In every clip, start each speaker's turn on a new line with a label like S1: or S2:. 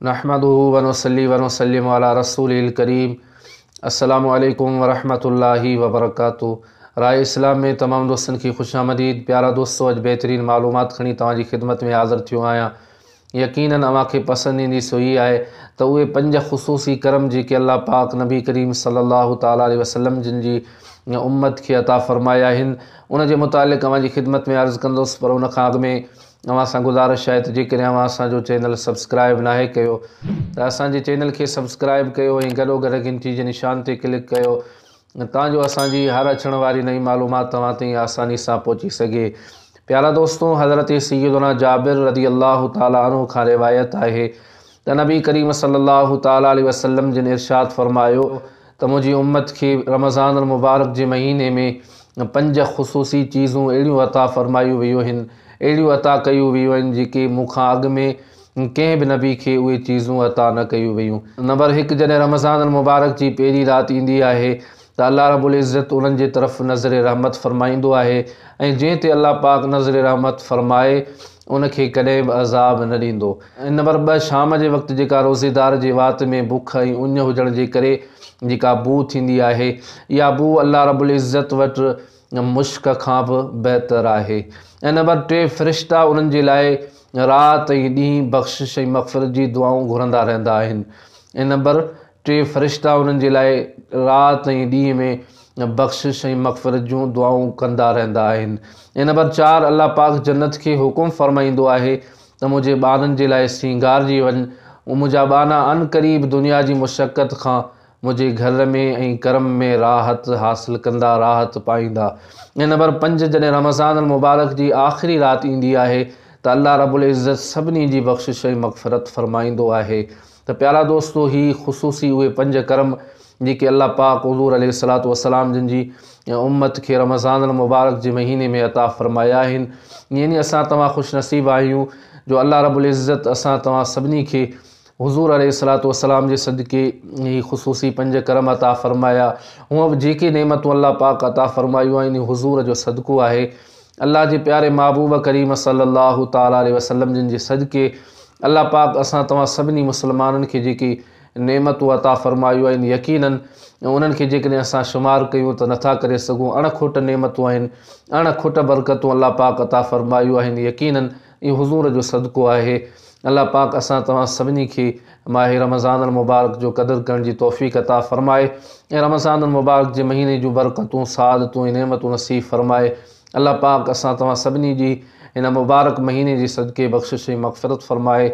S1: نحمده ونصلي ونسلم علي رسوله الڪريم السلام عليڪم ورحمة الله وبرڪاته راء اسلام ۾ تمام دوستن کي خوش آمديد پيارا دوستو اڄ بهترين معلومات کڻي توهان جي خدمت ۾ حاضر ٿيو آهيان يقينن اوهان کي پسند ايندي سو هي آهي ته اهي پنج خصوصي ڪرم جيڪي الله پاڪ نبي ڪريم صلي الله تعالي عليه وسلم جن جي امت کي عطا فرمايا آهن ان جي متعلق اوهان جي خدمت ۾ عرض ڪندس پر ان کان اڳ ۾ اوهان سان گذارش آهي ته جيڪڏهن اوهان اسان جو چينل سبسڪرائب ناهي ڪيو ته اسان جي چينل کي سبسڪرائب ڪيو ۽ گڏوگڏ گهنٽي جي نشان تي ڪلڪ ڪيو تان جو اسان جي هر اچڻ واري نئين معلومات توهان تائين آساني سان پهچي سگهي پيارا دوستو حضرت سيدنا جابر رضي الله تعالٰي عنه کان روايت آهي ته نبي ڪريم صلي الله تعالٰي عليه وسلم جن ارشاد فرمايو ته منهنجي امت کي رمضان المبارڪ جي مهيني ۾ پنج خصوصي چيزون اهڙيون عطا فرمايون ويون هن، اهڙيون عطا ڪيون ويون آهن جيڪي مون کان اڳ ۾ ڪنهن به نبي کي اهي چيزون عطا نه ڪيون ويون. نمبر هڪ، جڏهن رمضان المبارڪ جي پهرين رات ايندي آهي ته الله رب العزت انهن جي طرف نظر رحمت فرمائيندو آهي ۽ جنهن تي الله پاڪ نظر رحمت فرمائي ان کي ڪڏهن به عذاب نه ڏيندو. نمبر ٻه، شام جي وقت جيڪا روزيدار جي وات ۾ بک ۽ اڃ هجڻ جي ڪري جيڪا بوء ٿيندي آهي، اها بوء الله رب العزت وٽ مشڪ کان به بهتر آهي. ۽ نمبر ٽي، فرشتا انهن جي لاء رات ۽ ڏينهن بخشش ۽ مغفرت جي دعائون گهرندا رهندا آهن. ۽ نمبر ٽي، فرشتا انهن جي لاء رات ۽ ڏينهن ۾ بخشش ۽ مغفرت جون دعائون ڪندا رهندا آهن. ۽ نمبر چار، الله پاڪ جنت کي حڪم فرمائيندو آهي ته منهنجي ٻارن جي لاء سينگارجي وڃ، منهنجا ٻانها عن قريب دنيا جي مشقت کان منهنجي گهر ۾ ۽ ڪرم ۾ راحت حاصل ڪندا، راحت پائيندا. ۽ نمبر پنج جڏهن رمضان المبارڪ جي آخري رات ايندي آهي ته الله رب العزت سڀني جي بخشش ۽ مغفرت فرمائيندو آهي. ته پيارا دوستو هي خصوصي اهي پنج ڪرم جيڪي الله پاڪ حضور عليه الصلوة والسلام جن جي امت کي رمضان المبارڪ جي مهيني ۾ عطا فرمايا آهن يعني اسان توهان خوش نصيب آهيون جو الله رب العزت اسان توهان سڀني کي حضور عليه الصلوة والسلام جي صدقي هي خصوصي پنج ڪرم عطا فرمايا هونء به جيڪي نعمتون الله پاڪ عطا فرمايون آهن حضور جو صدقو آهي الله جي پياري محبوب ڪريم صلّي الله تعالٰي عليه وسلّم جن جي صدقي الله پاڪ اسان توهان سڀني مسلمانن کي جيڪي نعمتون عطا فرمايون آهن يقيناً انهن کي جيڪڏهن اسان شمار ڪيون ته نٿا ڪري سگهون اڻ کوٽ نعمتون آهن اڻ کوٽ برڪتون الله پاڪ عطا فرمايون آهن يقيناً اهو حضور جو صدقو آهي. الله پاڪ اسان توهان سڀني کي ماهه رمضان المبارڪ جو قدر ڪرڻ جي توفيق عطا فرمائي ۽ رمضان المبارڪ جي مهيني جون برڪتون، سعادتون ۽ نعمتون نصيب فرمائي. الله پاڪ اسان توهان سڀني جي هن مبارڪ مهيني جي صدقي بخشش ۽ مغفرت فرمائي.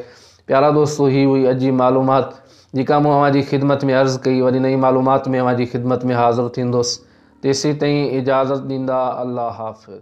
S1: پيارا دوستو هي هئي اڄ جي معلومات جيڪا مون اوهان جي خدمت ۾ عرض ڪئي وري نئين معلومات ۾ اوهان جي خدمت ۾ حاضر ٿيندس تيسيتائين اجازت ڏيندا الله حافظ.